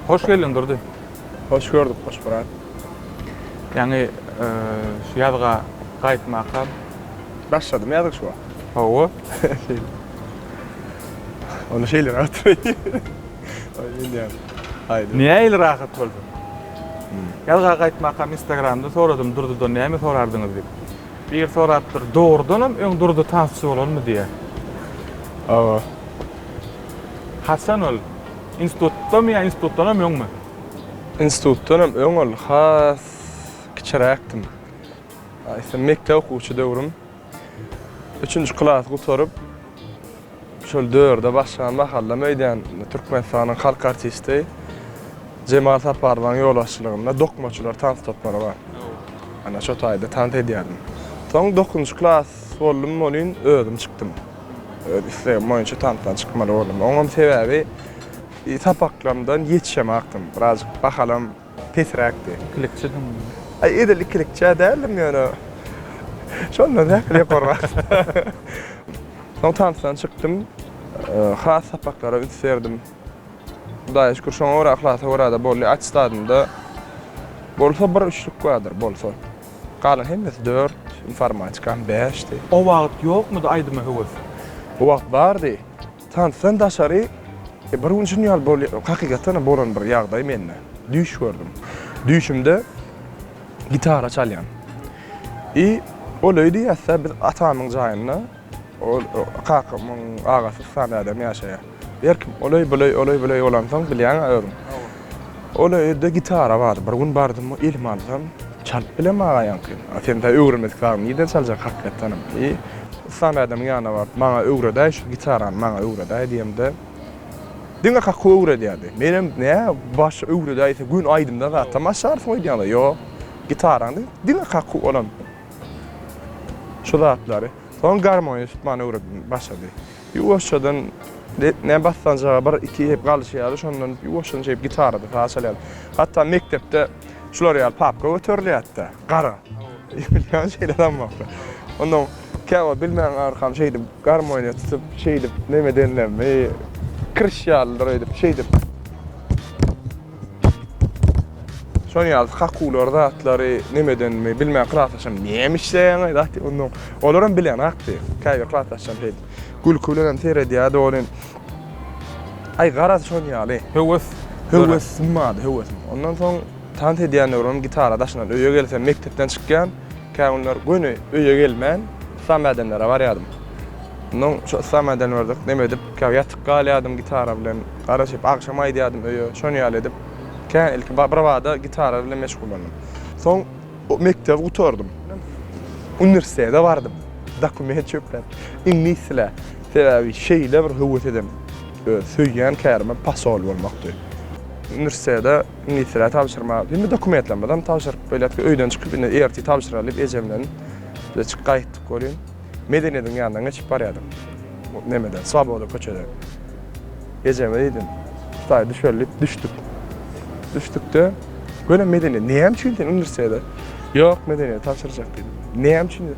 Hoş geldiň Durdy. Hoş gördük, hoş brat. Ýaňy e, şu ýazga gaýtmaka. Başladym ýazyk şu wagt. Hawa. Onu şeýle rahat. Oý, bilýän. Aýdyň. Näme ýaly rahat bolduň? Ýazga gaýtmakam instagramda soradym Durdydan näme sorardyňyz diýip. Biri sorapdyr dogrudanam öň Durdy tansçy bolanmy diýä. Hawa. Haçan ol? Institutdamy ýa institutdanam öňmi? Institutdanam öň ol has kiçiräkdim. Aýtsam mekdep okuwçy döwrüm. Üçünji klasy gutaryp, şol dörde başlan mahallam öýdýän Türkmenistanyň halk artisti Jemal Saparowyň ýolbaşçylygynda dokmaçylar tans topary bar. Ana şo taýda tans edýärdim. Soň dokuzynjy klas boldum welin özüm çykdym. Öz islegim boýunça tansdan çykmaly boldum. Oňam sebäbi sapaklarymdan ýetişemakdym. Birazajyk bahalam Pesräkdi. Ikilikçidiň. Aý edil ikilikçä däldim ýöne şondan däkil ýokarrak. Soň tansdan çykdym. Has sapaklara üns berdim. Hudaýa şükür şoňa görä yhlasa görä-de boldy. Atestadymda bolsa bir üçlük bardyr, bolsa. Galan hemmesi dört, informatikam bäşdi. O wagt ýokmudy aýdyma höwes? O wagt bardy. Tansydan daşary, bir gün şuny ýaly bol, hakykatdanam bolan bir ýagdaý mende. Düýş gördüm. Düýşümde gitara çalýan. I ol öý diýýäs-dä, biz atamyň jaýynda, ol kakamyň agasy Stan adamy ýaşaýar. Her kim ol öý, bu öý, ol öý, bu öý bolansoň, bilýäň-ä özüň. Ol öýde gitara bar. Bir gün bardym, elime alsam, çalyp bilen magaýaňky. A sen tä öwrenmedik zadyňy nirden çaljak hakykatdanam? Eý, Yslam ädemiň ýanyna baryp, maňa öwredäý, şu gitarany maňa öwredäý diýemde, diňe kakuw öwredýärdi. Menem, nä, baş öwredäýse göni aýdymda zatam açarsyň öýdýäňdä. Ýok, gitarany diňe kakuw, olam şu zatlary. Soň garmony tutmany öwredip başlady. Ýuwaşjadan näme bassanjaga bir iki hep galyşýardy, şondan ýuwaşjadan şeýdip gitarada saz çalýardy. Hatda mekdepde şular ýaly papka göterilýärdi-de, gara. Bilýän şeýle adam ýokdy. Ondan käwagt bilmän arkam şeýdip garmoniýa tutup, şeýdip neme edenlerimi, kirş ýalydyr öýdüp, şeýdip. Şonuň ýaly kakular zatlary nemedenmi bilmän klasdaşym näme işleýäňiz atdy ondan. Olar hem bilen atdy. Käbir klasdaşlarym şeýdi. Gülki bilen hem seredýärdi ol hem. Aý garaz şonuň ýaly. Höwes. Höwes symady höwesim. Ondan soň tans edýänler hem gitara daşynan öýe gelsem mekdepden çykýan. Kägünler göni öýe gelmän, yslam ädemlere barýardym. Onnoň şo yslam ädemlerdek neme edip, käbir ýatyp galýardym gitara bilen. Garaşyp, agşam aýdýardym öýe. Şon ýaly edip, kä ilki birbada gitara bilen meşgullandym. Soň mekdebi gutardym. Uniwersitete bardym. Dokument çöpläp, iňlis dilä. Sebäbi şeýle bir höwes edem, söýýän kärime posol bolmakdy. Uniwersitete. Ministre tabşyrma, indi dokumentlerimizem tabşyryp belet, öýden çykyp indi ertir tabşyraly diýip ejem bilen biz çykyp gaýtdyk welin, Medeniýediň ýanyndan geçip barýardyk. Nemeden, Swoboda köçeden. Ejeme diýdim, Hudaý düşeli diýip düşdük. Düşdük-de, welin Medeniýet, näme üçin sen uniwersitete? Ýok, Medeniýet tabşyrjak diýdim. Näme üçin?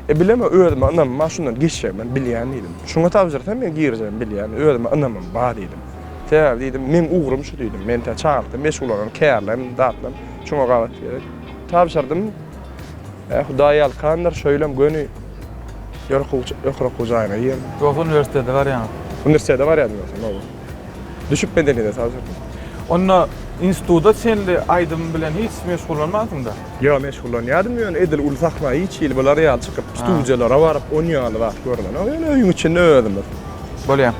E, bilemok, özüme ynamym bar, şundan geçjegimem bilýän diýdim. Şuňa tabşyrsam, men girjegimi bilýän, özüme ynamym bar diýdim. Sebäbi diýdim, meň ugrym şu diýdim, men tä çagalykdan meşgullanarym, kärlem, zatlem, şuňa gabat gerek. Tabşyrdym. Ä, Hudaý ýalkandyr, şeýlem göni. Ýörük okuw jaýyna girdim. Ýogsa uniwersitete barýaňyz? Uniwersitete barýardym ýogsam, hawa. Düşüp bedelede saz ýokmy? Onda instituda çenli aýdym bilen hiç meşgullanmansyňda? Ýok meşgullanýardym ýöne edil uly sahna hiç hili bular ýaly çykyp studiýalara baryp on ýaly zat görlenok ýöne öýüň içinde özümiz. Bolýa.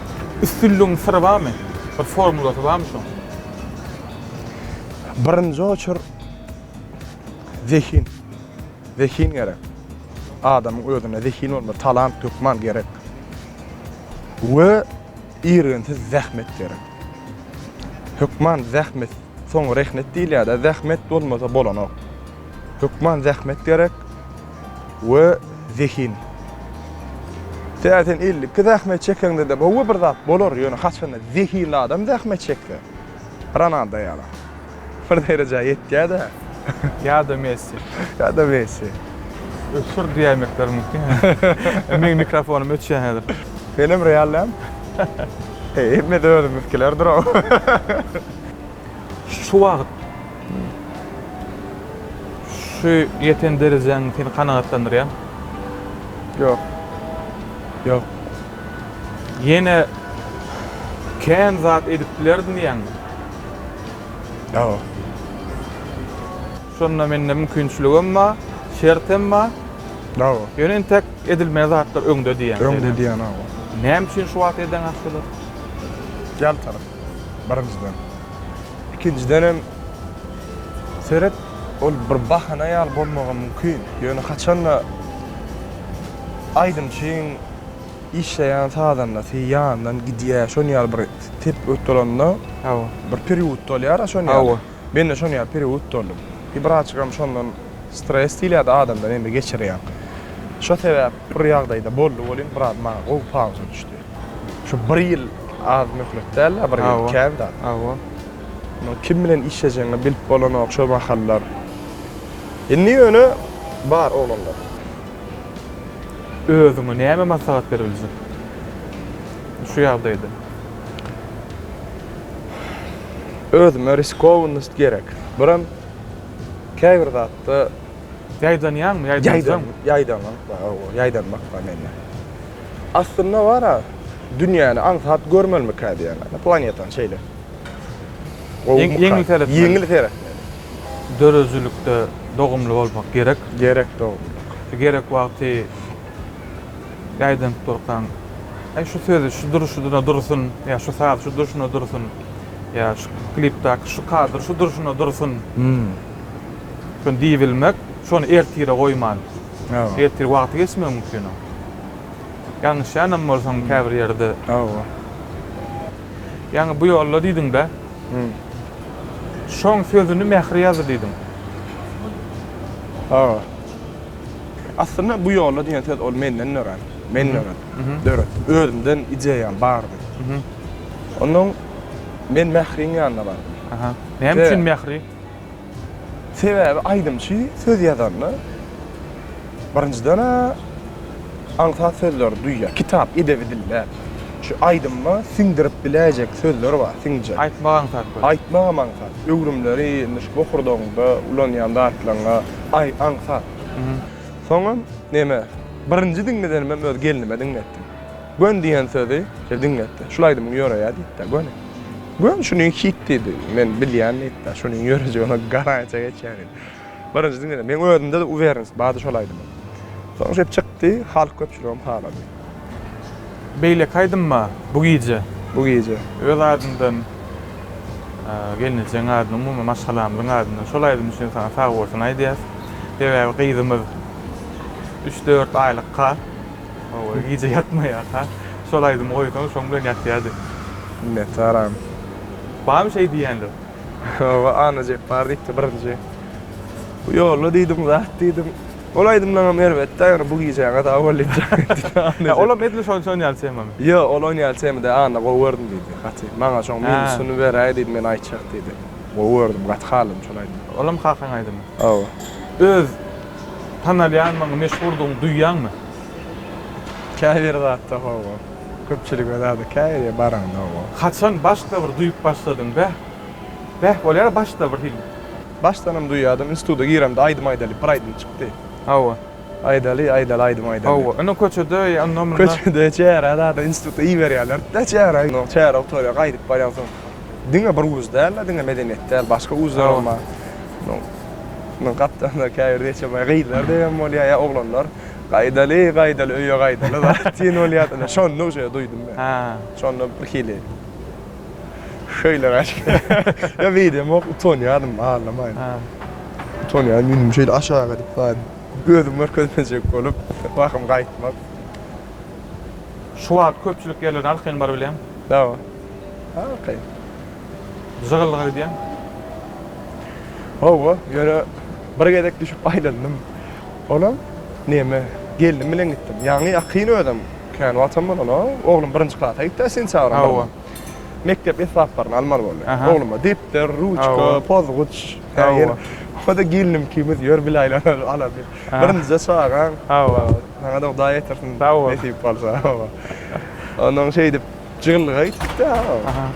Üstünligiň syry barmy? Bir formulasy barmy şuň? Birinji oçur zehin. Zehin gerek. Adamyň özünde zehin bolmaly, talant hökman gerek. We Irginsiz zähmet gerek. Hökman zähmet, soň rehnet diýilýär-dä, zähmet bolmasa bolanok. Hökman zähmet gerek we zehin. Tä sen elli iki zähmet çekeňde-de gowy bir zat bolar, ýöne haçanda zehinli adam zähmet çekse, Ronaldo ýaly. Bir derejä ýetýä-dä. Ýa-da Messi. Ýa-da Messi. Öçür diýäýmekler mümkin. Meň mikrofonym öçýä häzir. Senem Real däl? Heý, hemmesi özümizikilerdir-ow. Şu wagt şu ýeten derejäň seni kanagatlandyrýarmy? Ýok. Ýok. Ýene kän zat edip bilerdim diýýäňmi? Ýa-o. Şonda mende mümkinçiligem bar, şertem bar. Ýa-o. Ýöne entek edilmeli zatlar öňde diýýäň. Öňde diýýän, hawa. Näme üçin şu wagt edeňok şular? Ýaltalyk, birinjiden. Ikinjidenem, seret, ol bir bahana ýaly bolmagam mümkin. Ýöne haçan-da aýdymçyň. Işleýän sazandasy ýanyndan gidýär, şon ýaly bir tepgi utdalanda, Hawa. bir period utdalýar-a şon ýaly. Hawa. Men-de şon ýaly period utdaldym. I birazjygam şondan stres diýilýärdi adamda näme geçirýäň. Şo sebäp bir ýagdaýda boldy welin biraz maňa gowy pauza düşdi. Şu bir ýyl az möhlet däl-ä, bir ýyl kän zat. Hawa. Muny kim bilen işlejegiňi bilip bolanok şo mahallar. Indi ýöne bar oglanlar. Özüňe näme maslahat beriljek şu ýagdaýda? Özüme riskownost gerek. Birem käbir zatda Ýaýdanýaňmy, ýaýdanjaňmy? Ýaýdanmak bar, hawa, ýaýdanmak bar mende. Aslynda bar-a, dünýäni aňsat görmelimikä diýýän, planetany şeýle. Gowy, ýeňil seretmeli. Döredijilikde dogumly bolmak gerek. Gerek dogumly. Gerek wagty ýaýdanyp durkaň, Äý, şu sözi şu durşuna dursun, ýa şu sazy şu durşuna dursun, ýa şu klipdäki şu kadr şu durşuna dursun. Şony diýibilmek, şony ertire goýman. Ertir wagty geçmegi mümkin oň. Ýalňyşýanam bolsaň käbir ýerde. Hawa. Ýaňy bu ýolda diýdiň-dä. Şoň sözüni Mähri ýazdy diýdim. Aga. Aslynda bu ýolda diýen söz ol menden dörän. Men dörän. Dörän. Özümden ideýam bardy. Onnoň men Mähriň ýanyna bardym. Aha. Näme üçin Mähri? Sebäbi aýdymçy söz ýazanda birinjiden-ä aňsat sözleri duýýar. Kitap edebi dil däl. Şu aýdymyma siňdirip biläýjek sözler bar, siňjek. Aýtmak aňsat köp. Aýtmagam aňsat. Öwrümleri indi şu bokurdagyňda ulanýan zatlaryňa aý aňsat. Soňam neme, birinji diňledenimem öz gelnime diňletdim. Gön diýen sözi şeýle diňletdi. Şul aýdymyň ýöreýä diýipdir, göni. Gön şuny hit diýdi. Men bilýän diýipdir. Şuny ýörejegine garansiýa geçýän diýdi. Birinji diňleden meň özümde-de uwereniýet bardy şol aýdyma. Soň şeýdip çykdy, halk köpçüligem halady. Beýleki aýdymma Bu gije. Bu gije. Öz adyndan, gelnejegiň adyndan, umuman maşgalamyzyň adyndan şol aýdym üçin saňa sagbolsun aýdýas. Sebäbi gyzymyz üç-dört aýlykka. Owaý gije ýatmaýarka. Şol aýdymy goýsaň şoň bilen ýatýardy. Minnetdaram. Barmy şeý diýýänler? Hawa Annajepbar diýipdi birinji. Bu ýolla diýdim zat diýdim. Ol aýdymlaňam erbetdä ýöne bu gijäňe sag bol diýip jogap berdi diýdi Annajepbar. Olam edil şonça şon ýaly temamy? Ýok ol on ýaly tema däl Anna gowy gördüm diýdi gaty. Maňa şoň minusyny beräý diýdi men aýtjak diýdi. Gowy gördüm gaty haladym şol aýdymy. Olam kakaň aýdymy? Hawa. Öz Tanalýandygyňy, meşhurdygyňy duýýaňmy? Käbir zatda hawa. Köpçülige zada käbir ýere baraňda hawa. Haçan başda bir duýup başladyň? Beh, beh bolýar-a başda bir hil. Başdanam duýýardym. Instituta giremde aýdym aýdalyp bir aýdym çykdy. Hawa. Aýdaly, aýdaly, aýdym aýdaly. Hawa. Indi köçede, onda-munda. Köçede çäre zada instituta iberýärler-de çäre. Onsoň çäre gutarýar, gaýdyp barýaňsoň. Diňe bir wuz däl-de, diňe medeniýet däl, başga wuzlaram bar. Hawa. Munuň gapdalynda käbir neçemaý gyzlar degem bolýar ýa oglanlar. Gaýdaly, gaýdaly, öýe gaýdaly-da tiz bolýardylar. Şonda uje duýdum men. Şonda birhili şeýle ýa beýdemok, utanýardym, aglaman. Utanýan ýüzümi şeýle aşak edip bar, gözüm görkezmejek bolup, wahym gaýtmak. Şu wagt köpçülik ýerlerde alkyn bar bilýän. Ýa, alkyn. Jygyllyk edýäň. Hawa, ýöne bir gezek düşüp aýlandym. Olam, neme, gelnim bilen gitdim. Ýaňy ýakyn özem, kän wagtam bolan-a. Oglum birinji klasa gitdi-ä sentýabryň birinde. Hawa. Mekdep esbaplaryny almaly boldy. Ogluma depder, ruçka, pozguç, häzir o-da gelnim ikimiz ýör bilaýlanlar ala bil. Birinjije çagaň. Hawa. Saňa-da Hudaý ýetirsin, nesip bolsa. Hawa. Ondan şeýdip. Jylgaýtdy-da. Aha.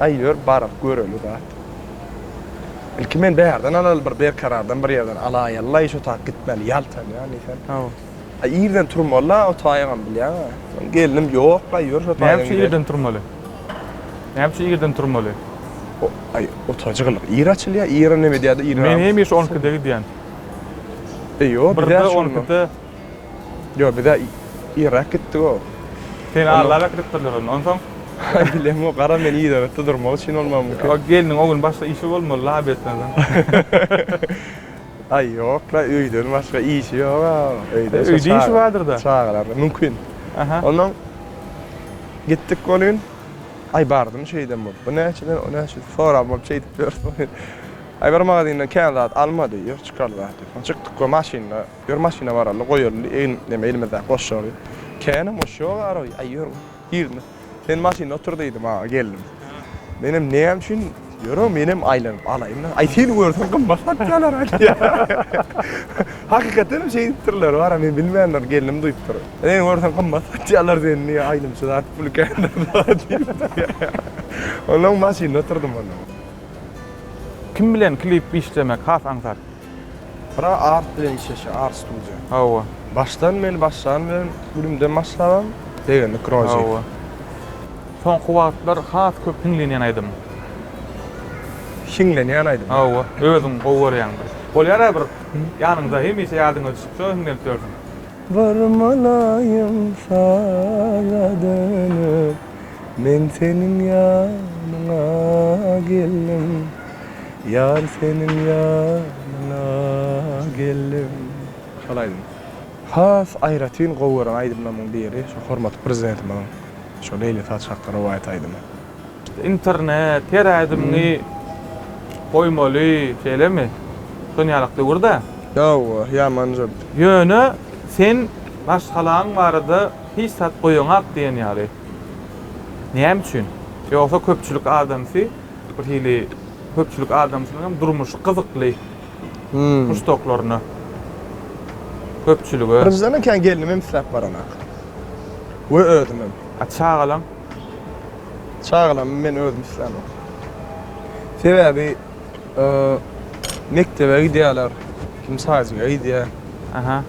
Aý, ýör, baryp göreli-dä. Ilki men bärden alaly, bir berkarardan bir ýerden alaýaly-laý, şo tak gitmeli, ýaltanýan diýsem. Hawa. Aý, irden turmaly-la, o taýygam bilýäň-ä. Soň gelnim, ýok-laý, ýör, şo taýdan gidelim. Näme üçin irden turmaly? Näme üçin irden turmaly? O, aý, otaga jygyllyk ir açylýar, ir näme edýär-de, ir. Men hemişe on ikide gidýän. E, ýok, bizä şonda. Birde on ikide. Ýok, bizä irräk gitdi o. Seni agzap äkidipdirler onda, onsoň? Bilemok, gara men yzagytda durmak üçin bolmagy mümkin. O gelniň o gün başga işi bolmaly, lap etmezden. Aý, ýok-la, öýden başga işi ýog-a. Öýde şo Öýde işi bardyr-da. Çagalar, mümkin. Aha. Onsoň gitdik ol gün. Aý, bardym şeýdem bolup. Bu näçeden, o näçeden sorap bolup şeýdip ýörüs. Aý, bir magazindan kän zat almady, ýok, çykalga diýip. Çykdyk we maşynda. Ýör maşyna baraly, goýalyly egin neme elimizdäki goşary. Känem goş ýok araby, aý ýör girme. Sen maşynda otur diýdi maňa gelnim. Menem näme üçin ýörem menem aýlanyp alaýyn-da. Aý seni görseň gymmat satýalar-a diýýär. Hakykatdanam şeýdipdirler bara men bilmändir gelnim duýupdyr. Seni görseň gymmat satýalar seni diýýär aýlymçy zat pul kändir-a diýipdir. Onuň maşynda oturdym onda. Kim bilen klip işlemek has aňsat? Bura art bilen işleşýär, art studio. Hawa. Başdan meni başlany bilen gülümden başlabam begendik Rozi. Hawa. Soňky wagtlar has köp hiňlenýän aýdym. Hiňlenýän aýdym. Hawa. Özüň gowy görýäň bir. Bolýara bir ýanyňda hemişe ýadyňa düşüp şo hiňlenip ýörsüň. Barmalaýyn saňa dönüp men seniň ýanyňa geldim. Ýar seniň ýanyňa geldim. Şol aýdym has aýratyn gowy gören aýdymlarymyň biri şu hormatly prezidentimiziň şu Leýli saç hakda rowaýat aýdymy. Internet her aýdymyňy goýmaly şeýlemi? Şon ýalak döwürda. Hawa, ýaman jübüt. Ýöne sen maşgalaň barada hiç zat goýaňak diýen ýaly. Näme üçin? Ýogsa köpçülik adamsy. Bir hili köpçülik adamsynyňam durmuşy gyzykly muşdaklaryna, köpçülige. Birinjiden kän gelnimem isläp baranak we özümem. A çagalaň? Çagalamy men özüm islämok. Sebäbi mekdebe gidýärler, kim sadiga gidýär. Aha.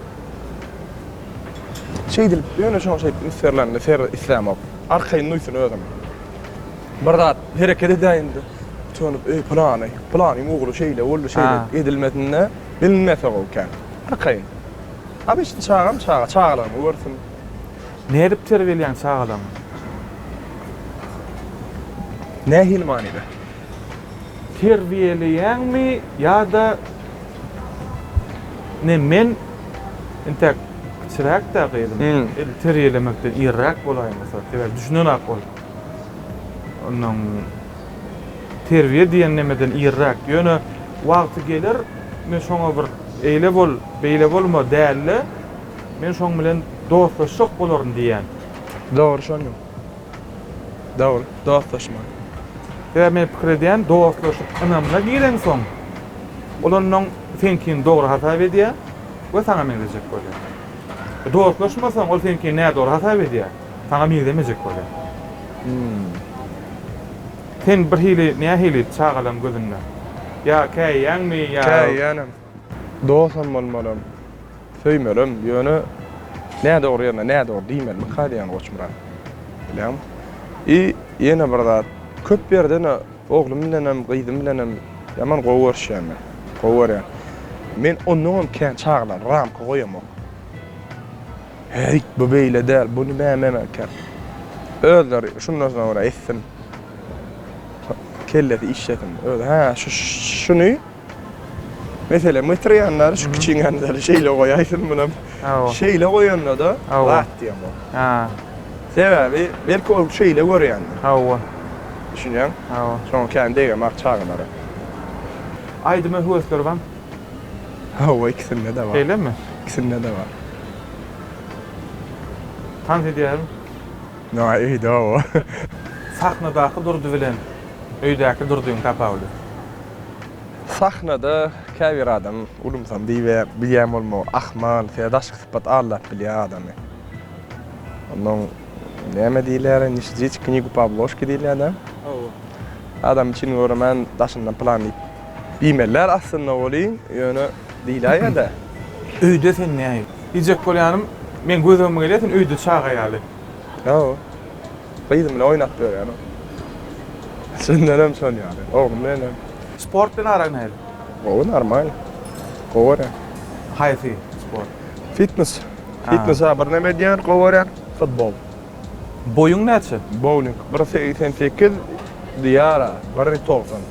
Şeýdilip, ýöne şoňa şeýdip üns berlenini islämok. Arkaýyn duýsun özüni. Bir zat hereket edäýende utanip, eý, pylany, pylanyň ogly şeýle boldy, şeýle Ha. edilmesinde bilinmese gowy kän. Arkaýyn. Obişni çagam çaga, çagalygyny görsün. Nädip terbiýeleýäň çagalaňy? Nähili manyda? Terbiýeleýäňmi ýa-da ine men intäk kiçiräk-dä gyzym. Him. Edil terbiýelemekden iriräk bolaýmasak, sebäbi düşünenak ol. Ondan terbiýe diýen nemeden irräk. Ýöne wagty geler, men şoňa bir eýle bol, beýle bolma däl-de, men şoň bilen dostlaşjak bolaryn diýýän. Dogry şonam. Dogry, dostlaşmaly. Sebäbi men pikir edýän, dostlaşyk ynamyna gireňsoň, ol onnoň seňkini dogry hasap edýär we saňa meňzejek bolýar. Dostlaşmasaň, ol seňkini nädogry hasap edýär. Saňa meňzemejek bolýar. Hümm. Sen birhili, nähili çagalaň gözünde? Ýa käýýäňmi, ýa. Käýýänem. Dosam bolmalym. Söýmelem, ýöne nädogry ýerine nädogry diýmelimikä diýýän Goçmyrat. Bilýäňmi? I ýene bir zat, köp ýerden-ä oglum bilenem, gyzym bilenem ýaman gowy görüşýän men. Gowy görýän. Men onnoňam kän çagalar ramka goýamok. Häýt, bu beýle däl, bu nime meme ekär? Özleri şundan soňra etsin, kellesi işlesin. Özi, hä, şuny meselem getirýänler, şu kiçiňänileri şeýle goýaýsyn, munam şeýle goýanda-da zat diýen bolup. Sebäbi belki ol şeýle görýändir. Hawa. Düşünýäňmi? Hawa. Şoňa kän degemak çagalara. Aýdyma höwesleri barmy? Hawa ikisinde de bar. Şeýlemi? İkisinde de bar. Tans edýärmi? Ýa öýde hawa. Sahnadaky Durdy bilen öýdäki Durdyň tapawudy. Sahnada käbir adam ulumsam diýip bilýän bolmagy ahmal, şeýle daşky sypat aldap bilýär adamy. Onnoň näme diýilýär, ne sžit knigu po obložki diýilýär-dä. Hawa. Adamy çyn göremän daşyndan plan diýip. Diýmeliler aslynda welin, ýöne diýläýýä-dä. Öýde sen näýip? Diýjek bolýanym, meň gözegime gelýär sen öýde çaga ýaly. Ýa-o. Gyzym bilen oýnap ýörýärin. Çyndanam şol ýaly. Oglum bilen hem. Sport bilen araň nähili? Gowy, normal. Gowy görýän. Haýsy sport? Fitnes. Fitnes-ä birneme edýän, gowy görýän. Futbol. Boýuň näçe? Bowling. Bir segsen sekiz diýýär-ä, bir togsan.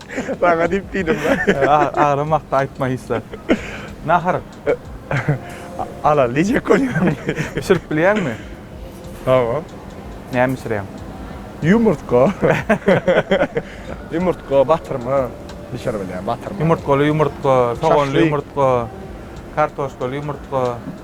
Saňa diýip diýdim. Agramyakda aýtma hiç-de. Nahar. Alal diýjek bolýan. Bişirip bilýäňmi? Hawa. Näme bişirýäň? Ýumurtga. Ýumurtga, batyrma bişirip bilýän, batyrma. Ýumurtgaly ýumurtga, soganly ýumurtga, kartoşkaly ýumurtga.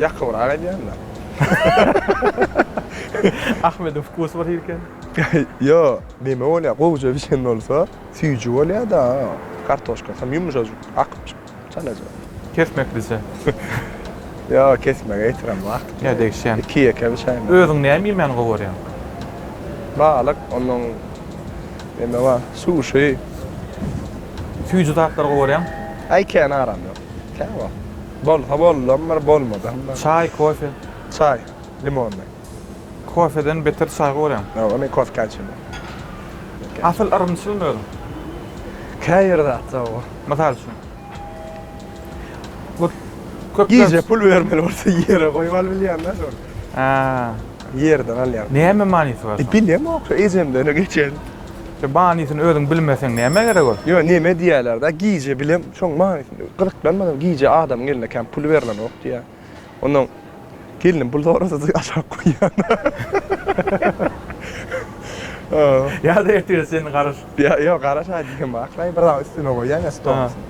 Ýakybrak edýänler. Ahmediň wkusy bir hilken. Ýo, neme bolýa, gowja bişen bolsa, süýji bolýa-da, kartoşkasy hem ýumşajyk, akyp çyk, çalaja. Kesmek bize. Ýo, kesmege ýetirem wagt. Ýa degişýän. Iki ýeke bişäýmeli. Özüň näme iýmäni gowy görýäň? Balyk, ondan neme bar, suşi. Süýji zatlary gowy görýäň? Äý kän aram ýok. Kä bar. Bolsa boldam bir bolmadam bir. Çaý, kofe? Çaý, limonly. Kofeden beter çaý gowy görýäň. Ýok, men kofka içemok. Asyl yrymçylmy özüň? Käbir zatda oba. Mysal üçin? Bu köpler. Gije pul bermeli bolsa ýere goýup alyp bilýän-dä şony. Ýerden alýan. Näme manysy bar şoň? Bilemok, ejemden geçen. Şu manysyny özüň bilmeseň nämä gerek ol. Ýöne neme diýýälerda gije bilem şoň manysyny gyzyklanmadym gije adamyň eline kän pul berlenok diýýä ondan gelnim pul sorasada aşak goýýan. Ýa-da ertire sen garaş. Ýa ýok garaş aý diýen bar aklay bir zat üstüne goýýan ýa stol üstüne.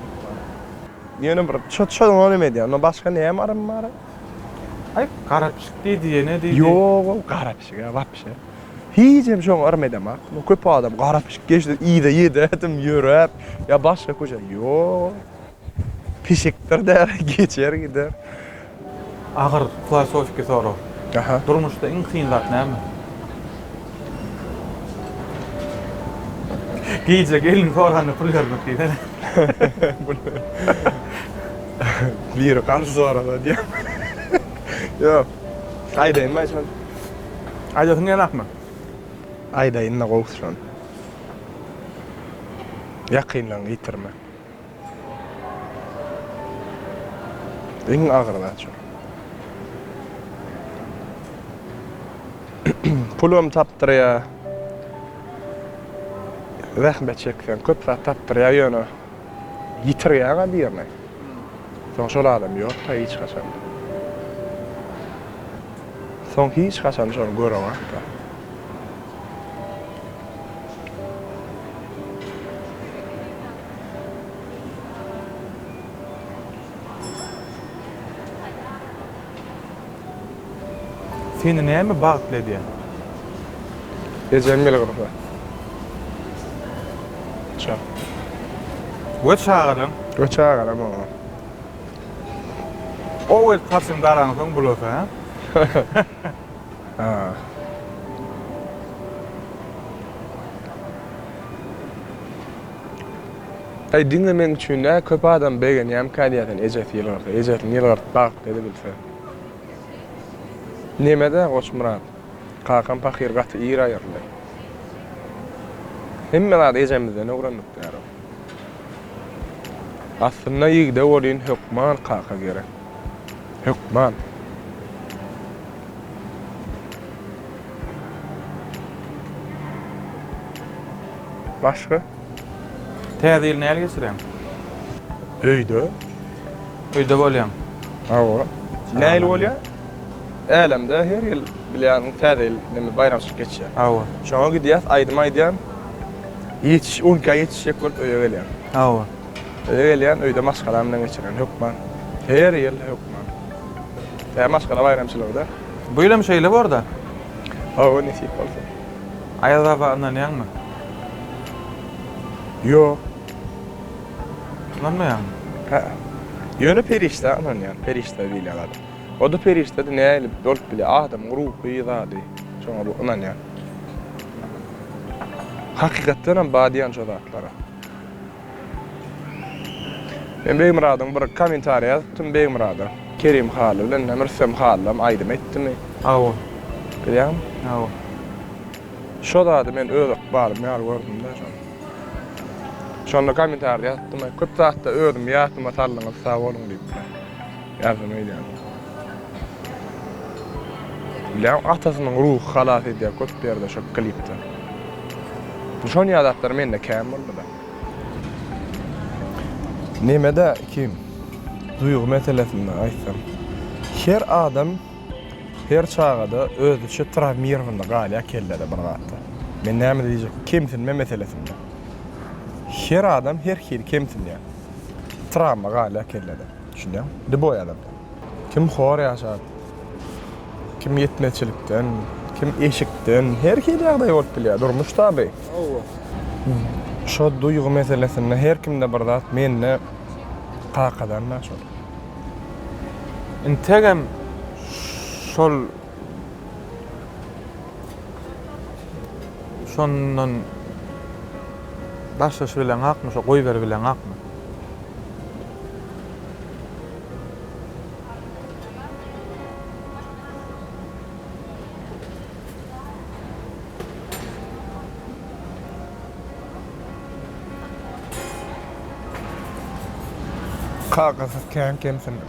Ýöne bir çöt çöt ony neme diýýä ondan başga näme yrym bar. Aý gara pişik diý diýene diýdi. Ýogoo gara pişik a wapşe. Hijem şoňa yrym edemok. Köp adam gara pişik geçdi, yza ýededim ýöräp, ýa başga köçe. Ýok. Pişikdir däl, geçer gider. Agyr filosofiki sorag. Aha. Durmuşda iň kyn zat näme? Gije gelin soranda pul bermek diýsene. Biri garşy sorasa diýýärmi? Ýok. Aýdaýynmy Aýşan? Aýdasyň gelenokmy? Aýdaýynda gowşan. Ýakynlaryňy ýitirme. Iň agyr zat şu. Pulum tapdyrýar. Zähmet çekseň köp zat tapdyrýar ýöne. Ýitirýäň-ä birini. Soň şol adam ýok-da hiç haçan. Soň hiç haçan şony göreňok-da. Seni näme bagtly edýär? Ejem bilen gyzykly. Çak. We çagalaň? We çagalam bar. Owez saçyny daraňsoň bulasa, hä? Aý diňe meň üçin dä köp adam begenýämkä diýýärsen ejesi ýylgyrsa ejesini ýylgyrdyp bagyp dedi bilse. Nemedä Goçmyrat kakam pahyr gaty ir aýyryldy. Hemme zady ejemizden öwrendik däro. Aslynda ýigde welin hökman kaka gerek. Hökman. Başga? Täze ýyl näl geçirýäň? Öýde. Öýde bolýaň. Hawa. Näil bolýa? Älemde her ýyl bilýän täze ýyl neme baýramçylyk geçýär. Hawa. Şoňa gidýäs, aýdym aýdýan. Ýetiş, on iki aý ýetişjek bolup öýe gelýän. Hawa. Öýe gelýän, öýde maşgalam bilen geçirýän, hökman. Her ýyl, hökman. Tä maşgala baýramçylygy-da. Bu ýylam şeýle bor-da. Hawa, nesip bolsa. Aýaz baba ynanýaňmy? Ýok. Ynanmaýaňmy? Hä-ä. Ýöne perişdä ynanýan, perişde diýilýän zat. O-da perişde-de nähili bolup bilýär? Adamyň ruhy zady. Şoňa bu ynanýan. Hakykatdanam bar diýýän şo zatlara. Men Begmyradyň bir komentariýa ýazypdym Begmyrada. Kerim Hally bilen näme Rüstem Hallam aýdym aýtdymy? Hawa. Bilýäňmi? Hawa. Şo zady men öz ykbalym ýaly gördüm-dä şony. Şonda komentarda ýazypdym köp zatda özümi ýadyma saldyňyz sag boluň diýip. Ýardam edýän. Bilýän atasynyň ruhy halas edýär köp ýerde şo klipde. Şonýa zatlar mende kän bolduda. Nemede kim? Duýgy meselesinde aýtsam. Her adam her çagada özüçe trawmirowanda galýar kellede bir zatlar. Men näme diýjek kemsinme meselesinde. Her adam her hili kemsinýär. Trawma galýar kellede. Düşünýäň? Di boý adam. Kim hor ýaşap, kim ýetmezçilikden, kim eşikden, her hili ýagdaý bolup bilýär. Durmuş taby. Hawa. Şo duýgy meselesinde her kimde bir zat, mende kakadan-da şol. Integem şol şondan başlaşybileňakmy, şo goýberibileňakmy? Kakasyz kän kemsindim.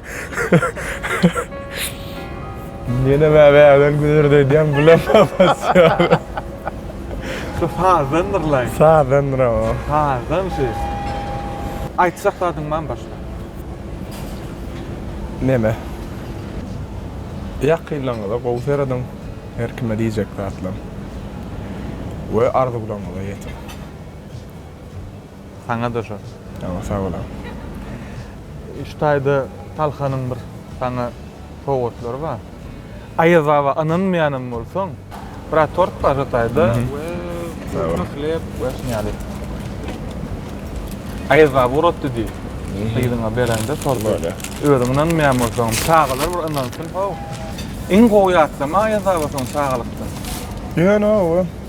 Ýene bäbäden güzert öýdýän bulam basýar. Şu sazdandyr laý. Sazdandyr o. Sazdan şu. Aýtjak zadyň barmy başga? Neme? Ýakynlaryňyza gowy seredin. Her kime diýjek zatlaryň we arzuwlaryňyza ýetiň. Saňa da şo. Ýa sag bol aga. Şu taýda Talhanyň bir saňa sowgatlary bar. Aýaz baba ynanmaýanam bolsaň, biraz tort bar şu taýda we köpme hleb we şuny ýaly. Aýaz baba uratdy diý. Gyzyňa berende torty. Özüň ynanmaýan bolsaňam çagalar bir ynansyn how. Iň gowy ýatlama Aýaz baba soň çagalykdan. Ýöne oba.